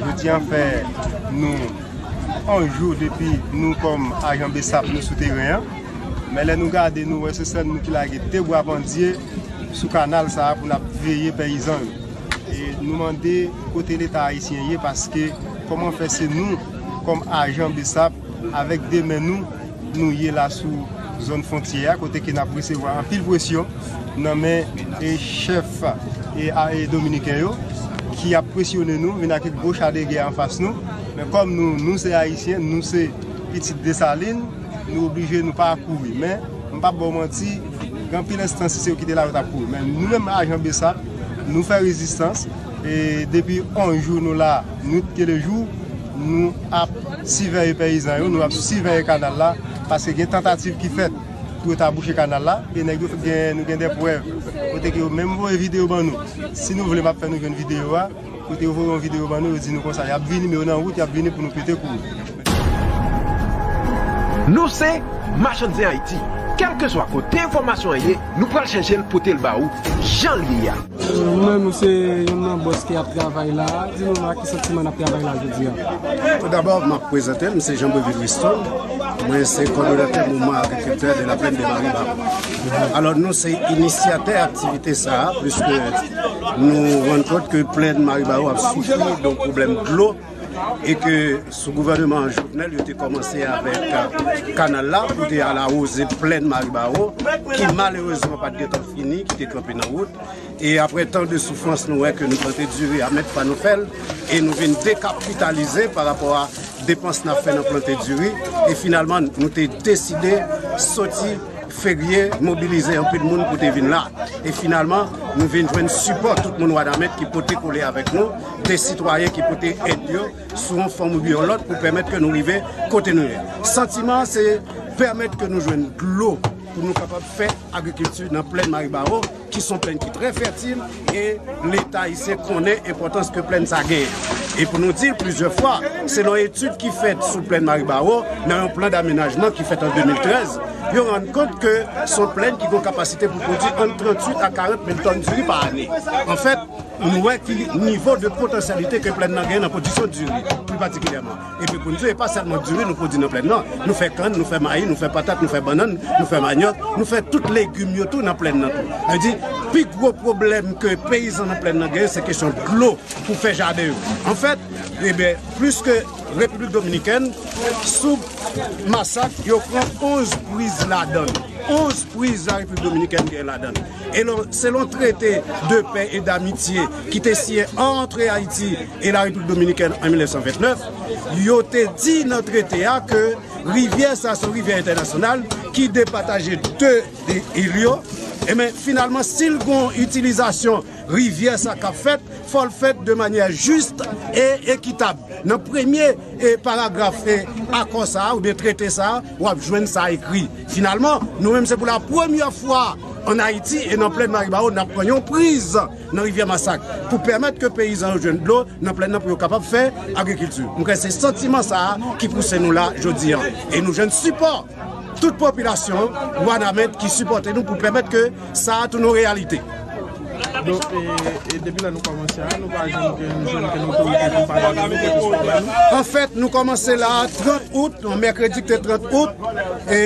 Jodi an fè nou 1 jou depi nou kòm ajan bsap nou sou teren an, men lè nou gade nou wè se sèl nou ki lage 2 bwa pandye sou kanal sa pou nap veye peyizan yo. E nou mande kote leta ayisyen ye paske kòman fè se nou kòm ajan bsap Avèk 2 men nou, nou ye la sou zòn fwontyè a kote ke nap resevwa anpil pwesyon nan men chèf dominiken yo ki ap pwesyone nou vin ak gwo cha de gè anfas nou men kòm nou, nou se ayisyen, nou se pitit Desalin nou oblije nou pa kouri men m pap baw manti gen anpil enstans si se yo ki te la yo tap kouri men nou menm ajan bsap nou fè rezistans. E depi 11 jou nou la, nwit ke de jou, nou ap siveye peyizan yo, nou ap siveye kanal la, paske gen tantativ ki fèt pou yo ta bouche kanal la, e nèg yo gen, nou gen de prèv, kote ke yo menm voye videyo ban nou, si nou vle map fè nou jwenn videyo a, kote yo voye yon videyo ban nou, yo di nou konsa, yap vini, men yo nan wout, yap vini pou nou pete kou yo. Nou se Machann Zen Ayiti, kèlkeswa kote enfòmasyon an ye, nou pral chèche l pote l ba ou jan l ye a. Mwen menm m se youn nan bòs ki ap travay la a, di nou ak ki santiman n ap travay la a jodi a. Toudabò, m ap prezante m, m se Jean Brevil Risto, mwen se kòdonatè Mouvman Agrikiltè de la Plaine de Maribab. Alò, nou se inisyatè aktivite sa a, pliske nou rann kont ke plèn Maribawo ap soufri don pwoblèm dlo. e ke sou gouvèneman Jovenel yo te kòmanse avèk kanal la pou te al awoze plèn Maribawon ki malerezman pat gen tan fini ki te kanpe nan wout e apre tan de soufrans nou wè ke nou tante diri a mèt pa nou fèl e nou vin dekapitalize pa rapò a depans nan fè nan plante diri e finalman nou te deside soti ferye mobilize anpil moun pou te vin la e finalman nou vin jwenn sipò tout moun Wanament ki pote kole avèk nou. de sitwayen ki pote èd yo sou yon fòm oubyen yon lòt pou pèmèt ke nou rive kote nou ye. Santiman an se pèmèt ke nou jwenn dlo pou nou kapab fè agrikilti nan plèn Maribawo ki son plèn ki trè fètil e leta ayisyen konnen enpòtans ke plèn sa genyen. E pou nou di plizyè fwa, selon etid ki fèt sou plèn Maribawo nan yon plan damenajman ki fèt an 2013, yo rann kont ke son plèn ki gon kapasite pou pwodui ant 38 a 40 mil tòn diri pa ane. Nou wè ki nivo de potansyalite ke plèn nan gen nan pwodiksyon diri, pli patikilyèman. Epi pou n di, e pa sèlman diri nou pwodi nan plèn nan, nou fè kann, nou fè mayi, nou fè patat, nou fè bannann, nou fè manyòk, nou fè tout legim yo tou nan plèn nan tou. Sa vle di, pi gwo pwoblèm ke peyizan nan plèn nan gen, se kesyon dlo pou fè jaden yo. Anfèt, enben, plis ke Repiblik Dominikèn, sou Masak, yo pran 11 priz ladann. 11 priz la Repiblik Dominikèn gen ladann. Selon trete de pè e damitye ki te siyen antre Ayiti e la Repiblik Dominikèn an 1929, yo te di nan trete a ke rivyè sa se yon rivyè entènasyonal ki depataje de il yo, enben finalman si l gon itilizasyon rivyè sa k ap fèt, fò l fèt de manyè jis e ekitab. Nan premye paragraf akò sa a oubyen trete sa a, w ap jwenn sa ekri. Finalman, nou menm se pou la premyè fwa an Ayiti e nan plèn Maribawo nap pran yon priz nan rivyè Masak pou pèmèt ke peyizan yo jwenn dlo nan plèn nan pou yo kapab fè agrikilti. M kwè se santiman sa a ki pouse nou la jodi an e nou jwenn sipò tout popilasyon Wanament ki sipòte nou pou pèmèt ke Sa a tounen yon reyalite. Depi lè nou kòmanse a, nou pa janm gen yon jèn ke nou korije pou pale avè nou, pou pale avè nou. Anfèt, nou kòmanse la a 30 out, yon mèkredi ki te 30 out, e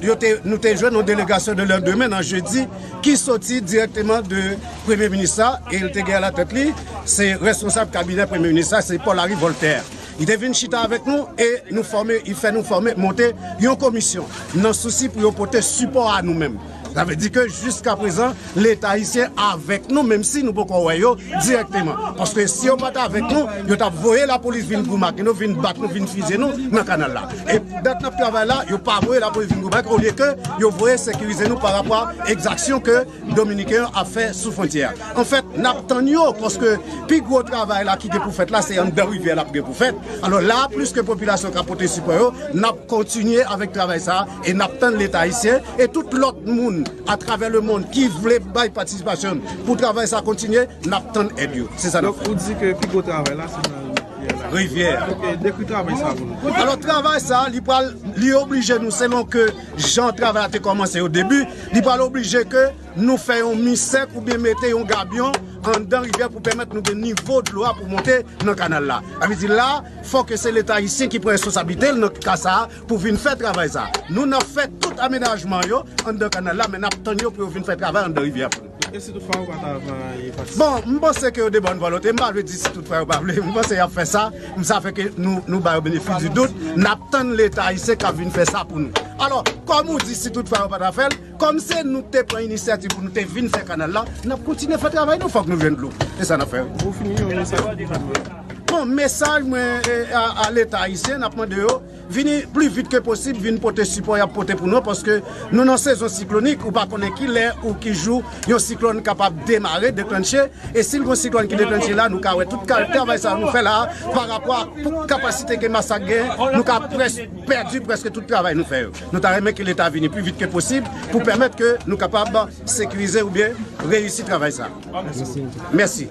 yo te, nou te jwenn yon delegasyon de lè demen nan jedi, ki soti dirèkteman de premye minis la, e li te gen alatèt li, se responsab kabinè premye minis la, se Paul Harry Voltaire. Li te vin chita avèk nou, e nou fòme, li fè nou fòme, monte yon komisyon, nan sousi pou yo pote sipò a nou menm. Sa vle di ke jiska prezan leta ayisyen avèk nou menm si nou poko wè yo dirèkteman. Paske si yo pat avèk nou, yo tap voye lapolis vin gou make nou, vin bat nou, vin fizye nou nan kanal la. E dat nap travay la, yo pa voye lapolis vin gou make olye ke yo voye sekirize nou parapò a ekzaksyon ke dominiken yo ap fè sou fwontyè a. Anfèt, nap tann yo paske pi gwo travay la ki gen pou fèt la se anndan rivyè lap gen pou fèt. Alò la a plis ke popilasyon ka pote sipò yo, nap kontinye avèk travay sa a. E nap tann leta ayisyen e tout lòt moun atravè lemond ki vle bay patisipasyon pou travay sa kontinye, nap tann èd yo. Se sa nap fè. Donk ou di ke pi gwo travay la se nan rivyè la. Rivyè a. Ok, dekri travay sa pou nou. Alò travay sa li pral, li oblije nou selon ke jan travay la te kòmanse o debi, li pral oblije ke nou fè yon mi sèk oubyen mete yon gabyon anndan rivyè pou pèmèt nou gen nivo dlo a pou monte nan kanal la. Sa vle di la fò ke se leta ayisyen ki pran responsablite l nan ka sa Pou vin fè travay sa. Nou nan fè tout amenajman yo anndan kanal la men nap tann yo pou yo vin fè travay anndan rivyè pou nou. E si tout fwa yo pa ta vle patisipe? Bon, m panse ke yo de bòn vòlonte. M pa vle di si tout fwa yo pa vle. M panse yap fè sa. M sa fè ke nou ba yo benefis di dout. Nap tann leta ayisyen kap vin fè sa pou nou. Alò, kòm ou di si tout fwa yo pa ta fè l. Kòm se nou ki te pran inisyativ pou nou te vin fè kanal la, n ap kontinye fè travay nou fòk nou jwenn dlo. Se sa n ap fè wi. Bon, mesaj mwen a leta ayisyen, n ap mande yo vini pli vit ke posib vin pote sipò y ap pote pou nou paske nou nan sezon siklonik, ou pa konnen ki lè ou ki jou yon siklòn kapab demare, deklanche e si l gen yon siklòn ki deklanche la nou ka wè tout travay sa nou fè la parapò ak kapasite ke Masak gen nou ka pèdi prèske tout travay nou fè yo. Nou ta renmen ke leta vini pi vit ke posib pou pèmèt ke nou kapab sekirize oubyen reyisi travay sa. Mèsi.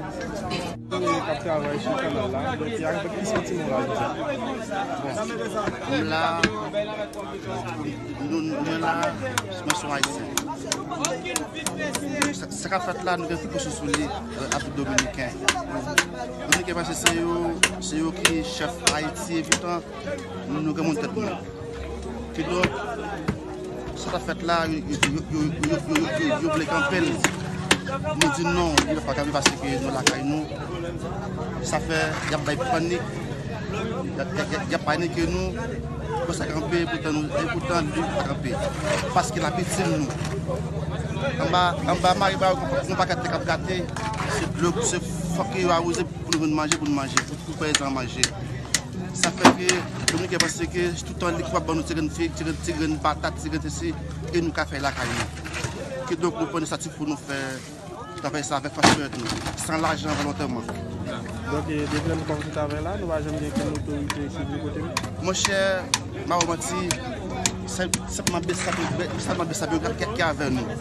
Nou gen moun tèt moun. Kidonk, sa k ap fèt la, yo vle kanpe l. Nou di non, li pa kapab pase piye nou lakay nou. Sa fè, y ap bay panik, y ap panike nou pou sa kanpe, epoutan li pa kanpe. Paske l ap itil nou. Anba mare pa yo gen yon paket tè k ap grate, se fòk yo awoze pou nou jwenn manje pou nou manje, pou pèyizan an manje. Sa fè ke Dominiken panse ke tout tan li kapab ban nou ti grenn fig, ti grenn patat, ti grenn sesi, e nou ka fè lakay nou. Kidonk nou pran inisyativ pou nou fè travay sa avèk fas pèyèt nou, san lajan volontèman. Donk e depi lè nou kòmanse travay la, nou pa janm gen okenn otorite ki vle kote nou? Monchè, m pa ba w manti, se senpman Bsap yo, sèlman Bsap yo ki avè nou.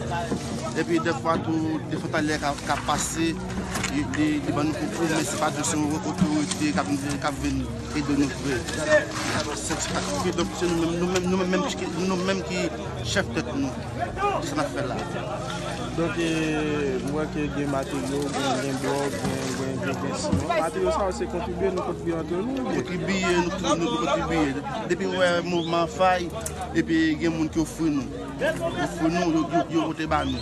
Epi dèfwa tou, dèfwa talè ka pase. li ban nou konkou men se pa di se yon otorite k ap vin ede nou vre. Se nou menm ki chèf tèt nou. Se sa n ap fè la. Donk, m wè ke gen materyo, gen blòk, gen dessin. Materyo sa yo se kontribye, nou kontribye antre nou oubyen? Kontribye, nou tout kontribye. Depi wè mouvman an fay, epi gen moun ki ofri nou. Ofri nou, yo pote ba nou.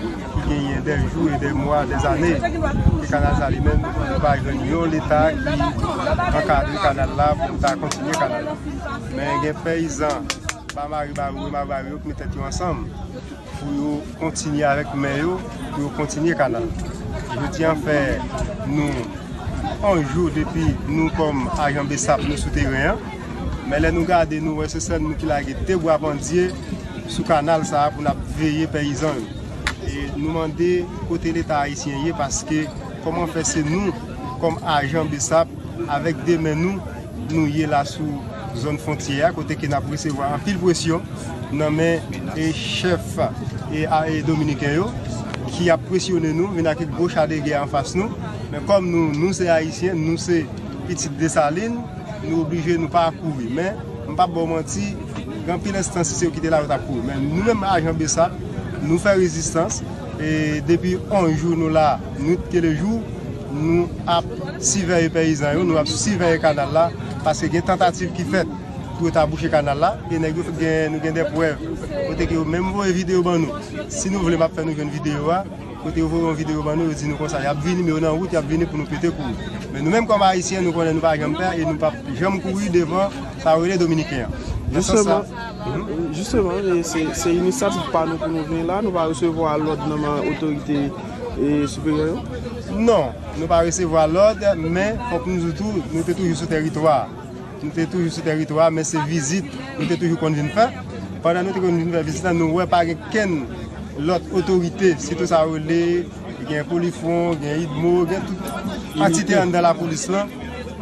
ki genyen dè jou e dè mwa, dè zane ke kanal sa li menm nou pa jwenn yon leta ki ankadre kanal la pou ta kontinye kanal la men gen peyizan ba mari ba rou e ma rou yo ki met tèt yo ansanm pou yo kontinye avèk men yo pou yo kontinye kanal yo di an fè nou anjou depi nou kòm ajan besap nou sou teren an. Men lè nou gade nou wè se sèl nou ki lage 2 bwa pandye sou kanal sa a pou nap veye peyizan yo. E nou mande kote leta ayisyen ye paske kòman fè se nou kòm ajan bsap avèk 2 men nou nou ye la sou zòn fontyè a kote ke nap resevwa anpil presyon nan men e chèf e a e dominiken yo ki ap presyone nou vin ak gwo cha de gè anfas nou men kòm nou nou se ayisyen nou se Pitit Desalin, nou oblije nou pa kouri. Men, m pap ba w manti, gen anpil enstans si se yo ki te la yo tap kouri. Men nou menm ajan Bsap, nou fè rezistans e depi 11 jou nou la nwit ke le jou, nou ap siveye peyizan yo, nou ap siveye kanal la paske gen tantativ ki fèt pou yo ta bouche kanal la e nèg yo gen nou gen de prèv kote ke yo menm voye video ban nou. Si nou vle map fè nou jwenn video a. Kote yo voye yon video ban nou yo di nou konsa yap vini men yo nan wout yap vini pou nou pete kou yo men nou menm kòm ayisyen nou konnen nou pa janm pè e nou pap janm kouri devan sa yo rele dominiken an nan sans sa Jisteman se inisyativ pa nou pou nou vini la nou pa resevwa lòd nan men otorite siperyè yo? Non nou pa resevwa lòd men fòk nou di tou nou te toujou sou tèritwa a. Nou te toujou sou teritwa a men se vizit nou te toujou konn vin fè. Pandan nou te konn vin fè vizit la nou wè pa gen kenn lòt otorite sitou sa yo rele gen polifwon, gen idmo, gen tout antite anndan lapolis lan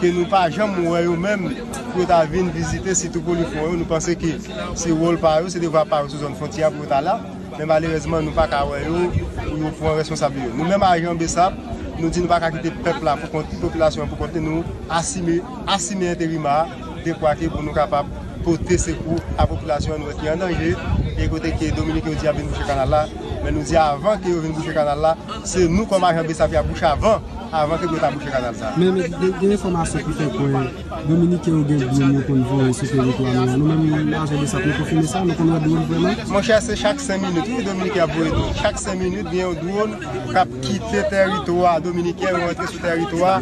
ke nou pa janm wè yo menm pou yo ta vin vizite sitou polifwon yo. Nou panse ke se wòl pa yo, se devwa pa yo sou zòn fwontyè a pou yo ta la. Men malerezman nou pa ka wè yo pou yo pran responsabli yo. Nou menm ajan bsap nou di nou pa ka kite pèp la pou kont li, popilasyon an pou kont li nou asime. Asime enterima a dekwa ke pou nou kapab pote sekou a popilasyon an nou wè ki an danje e kote ke Dominik yo di yap vin bouche kanal la men nou di avan ke yo vin bouche kanal la se nou kòm ajan Bsap yap bouche avan avan ke pou yo ta bouche kanal sa. Men gen enfòmasyon ki fè kwè Dominiken yo gen dwonn yo konn voye sou teritwa nou an nou menm ajan Bsap nou konfime sa nou konn wè dwonn vrèman? Monchè se chak 5 minit wi Dominiken ap voye dwonn chak 5 minit gen yon dwonn kap kite teritwa dominiken yo antre sou teritwa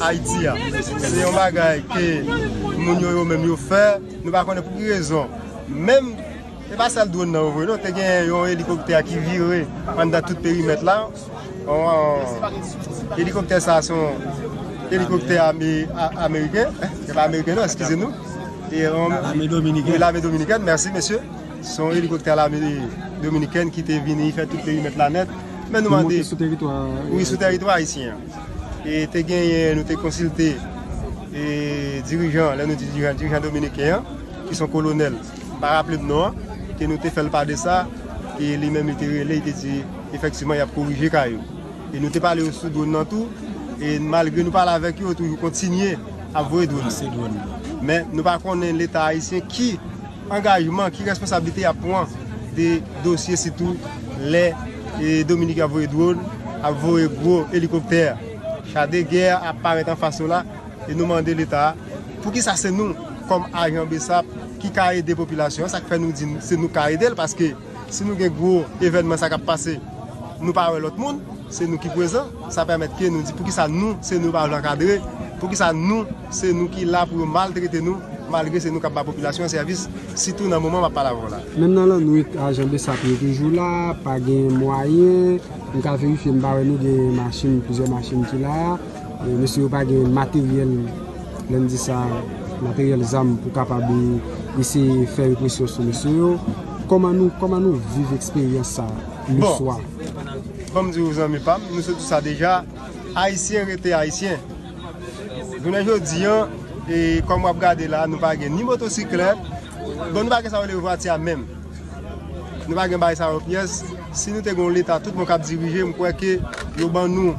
ayiti a se yon bagay ke moun yo yo menm yo fè nou pa konnen pou ki rezon menm se pa sèl dron nan yo voye non te gen yon elikoptè ki vire anndan tout perimèt la elikoptè sa se yon elikoptè ameriken se pa ameriken non eskize nou lame dominiken mèsi mesye Se yon elikoptè lame dominikèn ki te vini fè tout perimèt la nèt. Men nou mande. Ki monte sou teritwa ayisyen. Wi, sou teritwa ayisyen an. E te genyen, nou te konsilte e dirijan, lè nou di dirijan, dirijan dominiken an, ki son kolonèl, m pa raple m non an, ke nou te fè l pa de sa, e li menm li te rele, li te di, efektivman y ap korije ka yo. E nou te pale yo sou dwòn nan tou, e malgre nou pale avèk yo, yo toujou kontinye ap voye dwòn. Lanse dwòn. Men nou pa konnen leta ayisyen ki. Angajman ki responsablite yap pwan de dosye sitou lè Dominiken ap voye dron, ap voye gwo elikoptè, cha de gè ap parèt anfas nou la e nou mande leta poukisa se nou kòm ajan bsap ki ka ede popilasyon an sak fè nou di se nou ka edel paske Si nou gen gwo evènman sa kap pase nou pa wè lòt moun se nou ki pwezan sa pèmèt ke nou di poukisa nou se nou yo pa vle ankadre poukisa nou se nou ki la pou yo maltrete nou malgre se nou kap ba popilasyon an sèvis sitou nan moman map pale avèw la. Menm nan lannwit ajan bsap yo toujou la pa gen mwayen m ka verifye m pa wè nou gen machin plizyè machin ki la. Mesye yo pa gen materyèl, lè n di sa, materyèl zam pou kapab eseye fè represyon sou mesye yo. Kòman nou, kòman nou viv eksperyans sa le swa? Bon, ban m di ou zanmi pa m, nou se tout sa deja, Ayisyen rete Ayisyen. Jounen jodi an, e kòm w ap gade la, nou pa gen ni motosiklèt, bon nou pa gen sa yo rele vwati a menm. Nou pa gen bagay sa yo pyès. Si nou te gen yon Leta tout bon k ap dirije, m kwè ke yo ban nou.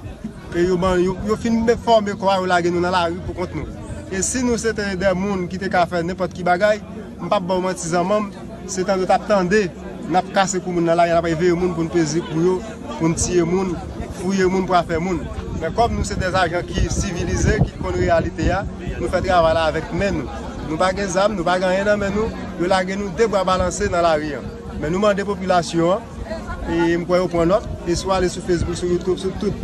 E yo ban yo, yo fin fòme kò a yo lage nou nan lari pou kont nou. E si nou se te dè moun ki te ka fè nenpòt ki bagay, m pap ba w manti zanman m, se tande w t ap tande n ap kase kou moun nan lari, n ap reveye moun pou n peze kou yo, pou n tiye moun, fouye moun pou afè moun. Men kòm nou se dè ajan ki sivilize, ki konn reyalite a, nou fè travay la avèk men nou. Nou pa gen zam, nou pa gen anyen nan men nou, yo lage nou de bra balanse nan lari an. Men nou mande popilasyon an, e m kwè yo pran nòt, e si w ale sou Facebook, sou YouTube, sou tout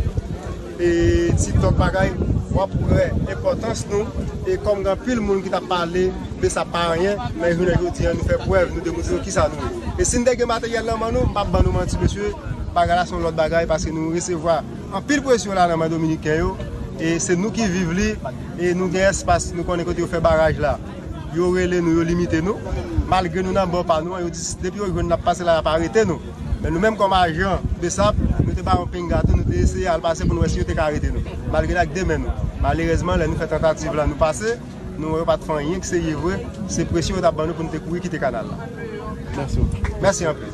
e tik tok bagay, w ap wè enpòtans nou, e kòm gen anpil moun ki t ap pale de sa pa anyen, men jounen jodi an nou fè prèv, nou demontre yo kisa nou ye. E si n te gen materyèl nan men nou, m p ap ban nou manti mesye, bagay la se yon lòt bagay, paske nou resevwa anpil presyon la nan men dominiken yo, e se nou ki viv li, e nou gen espas, nou konnen kote yo fè baraj la. Yo rele nou, yo limite nou. Malgre nou nan bò pa nou an, yo di depi yo jwenn n ap pase la, y ap arete nou. Men nou menm kòm ajan bsap, nou te bay yon pinga tou, nou te eseye al pase pou nou wè si yo te ka arete nou. Malgre n ak de men nou. Malerèzman, lè nou fè tantativ la, nou pase, nou wè yo pa t fè anyen ki serye vre. Se presyon yo t ap ban nou pou nou te kouri kite kanal la. Mèsi anpil.